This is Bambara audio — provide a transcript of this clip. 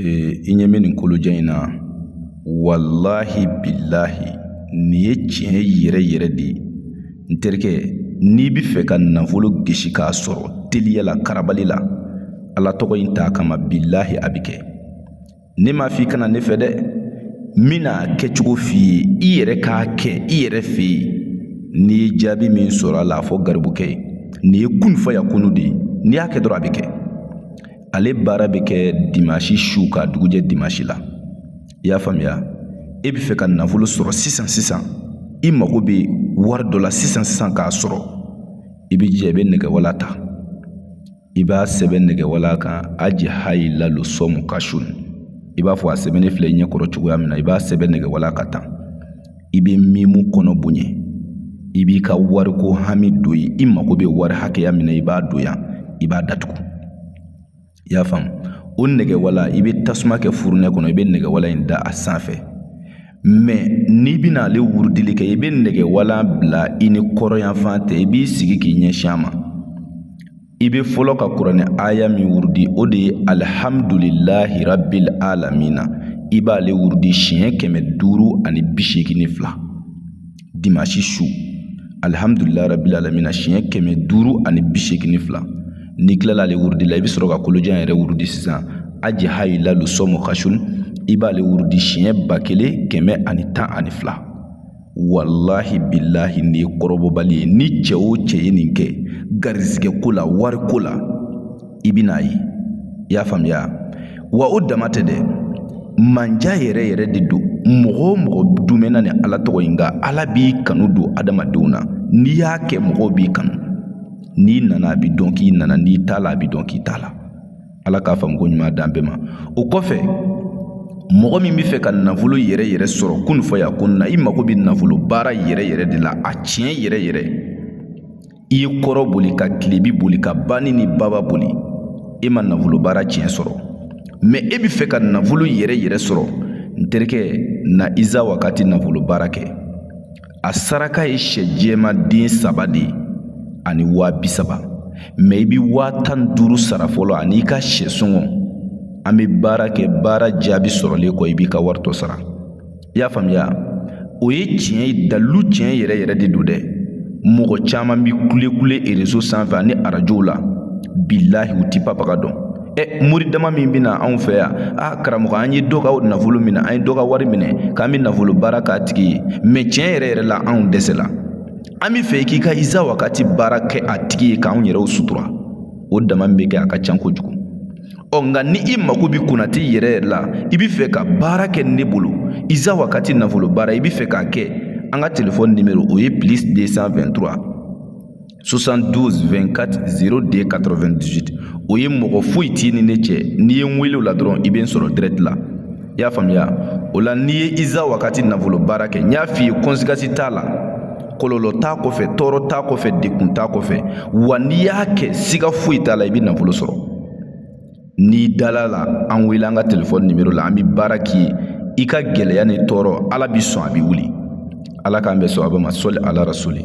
i ɲɛ bɛ nin kolojan in na walahi bilahi nin ye tiɲɛ yɛrɛ yɛrɛ de ye n terikɛ n'i bɛ fɛ ka nafolo gisi k'a sɔrɔ teliya la karabali la ala tɔgɔ in t'a kama bilahi a bɛ kɛ ne m'a f'i ka na ne fɛ dɛ n bɛn'a kɛcogo f'i ye i yɛrɛ k'a kɛ i yɛrɛ fɛ yen n'i ye jaabi min sɔrɔ a la a fɔ garibukɛ ye nin ye kun fayakunu de ye n'i y'a kɛ dɔrɔn a bɛ kɛ ale baara bɛ kɛ dimansi su ka dugujɛ dimansi la i y'a faamuya e bɛ fɛ ka nafolo sɔrɔ sisan sisan i mago bɛ wari dɔ la sisan sisan k'a sɔrɔ i b'i jija i bɛ nɛgɛwala ta i b'a sɛbɛn nɛgɛwala kan aji hayi lalo sɔmu kasun i b'a fɔ a sɛbɛnnen filɛ i ɲɛkɔrɔ cogoya min na i b'a sɛbɛn nɛgɛwala kan tan i bɛ miimu kɔnɔ bonya i b'i ka wariko hami don yen i mago bɛ wari hakɛya min na i b'a don yan i b'a datugu i y'a faamu o nɛgɛwala i bɛ tasuma kɛ furunɛ kɔnɔ i bɛ nɛgɛwala in da a sanfɛ mɛ n'i bɛna ale wurudili kɛ i bɛ nɛgɛwala bila i ni kɔrɔnyanfan tɛ i b'i sigi k'i ɲɛsin a ma I bɛ fɔlɔ ka kuranɛ aya min wurudi o de ye alihamdulilahi rabili alamina i b'aale wurudi siɲɛ kɛmɛ duuru ani bi segin ni fila dimansi su alihamdulilahi rabili alamina siɲɛ kɛmɛ duuru ani bi segin ni fila n'i tilala ale wurudi la i bɛ sɔrɔ ka kolojan yɛrɛ wurudi sisan aji hayi lalo sɔmɔ kasun i b'aale wurudi siɲɛ ba kelen kɛmɛ ani tan ani fila walahi bilahi nin ye kɔrɔbɔbali ye ni cɛ o cɛ ye nin kɛ garizigɛ ko la wari ko la i bɛn'a ye i y'a faamuya wa o dama tɛ dɛ manja yɛrɛ yɛrɛ de don mɔgɔ o mɔgɔ dumɛna nin ala tɔgɔ in kan ala b'i kanu don adamadenw na n'i y'a kɛ mɔgɔw b'i kanu n'i nana a bɛ dɔn k'i nana n'i taala a bɛ dɔn k'i taala ala k'a faamuko ɲuman d'an bɛɛ ma o kɔfɛ mɔgɔ min bɛ fɛ ka nafolo yɛrɛ yɛrɛ sɔrɔ kun fayakunu na i mago bɛ nafolo baara yɛrɛ yɛrɛ de la a tiɲɛ yɛrɛ yɛrɛ i ye kɔrɔn boli ka tilebi boli ka banni ni baba boli e ma nafolo baara tiɲɛ sɔrɔ mɛ e bɛ fɛ ka nafolo yɛrɛ yɛrɛ sɔrɔ n terikɛ na iza wakati nafolo baara kɛ a saraka ye sɛ jɛma den saba de ye ani waa bi saba mɛ i bɛ waa tan ni duuru sara fɔlɔ ani i ka sɛ sɔngɔ an bɛ baara kɛ baara jaabi sɔrɔlen kɔ i b'i ka wari tɔ sara i y'a faamuya o ye tiɲɛ ye dalilu tiɲɛ yɛrɛ yɛrɛ de don dɛ mɔgɔ caman bɛ kulekule erezo sanfɛ ani arajow la bilahi u ti papaga dɔn ɛ mori dama min bɛ na anw fɛ yan a karamɔgɔ an ye dɔ ka nafolo minɛ an ye dɔ ka wari minɛ k'an bɛ nafolo baara k'a tigi ye mɛ tiɲɛ yɛrɛ yɛrɛ la anw dɛsɛla an bɛ fɛ k'i ka iza wakati baara kɛ a tigi ye k'anw yɛrɛw sutura o dama min bɛ kɛ a ka ca kojugu ɔ nka ni i mako bɛ kunnati yɛrɛ yɛrɛ la i bɛ fɛ ka baara kɛ ne bolo iza wakati nafolo baara i bɛ fɛ k'a kɛ an ka telefɔni nimero o ye plus 223 72240298 o ye mɔgɔ foyi t'i ni ne cɛ n'i ye n wele o la dɔrɔn i bɛ n sɔrɔ direct la i y'a faamuya o la n'i ye iza wakati nafolo baara kɛ n y'a f'i ye kɔnsigasi t'a la kɔlɔlɔ t'a kɔfɛ tɔɔrɔ t'a kɔfɛ degun t'a kɔfɛ wa n'i y'a kɛ siga foyi t'a la i bɛ nafolo sɔrɔ n'i dal'a la an wele an ka telefɔni nimero la an bɛ baara k'i ye i ka gɛlɛya ni tɔɔrɔ ala bi sɔn a bɛ wuli ala k'an bɛ sɔn a bɛ ma sali ala rasuli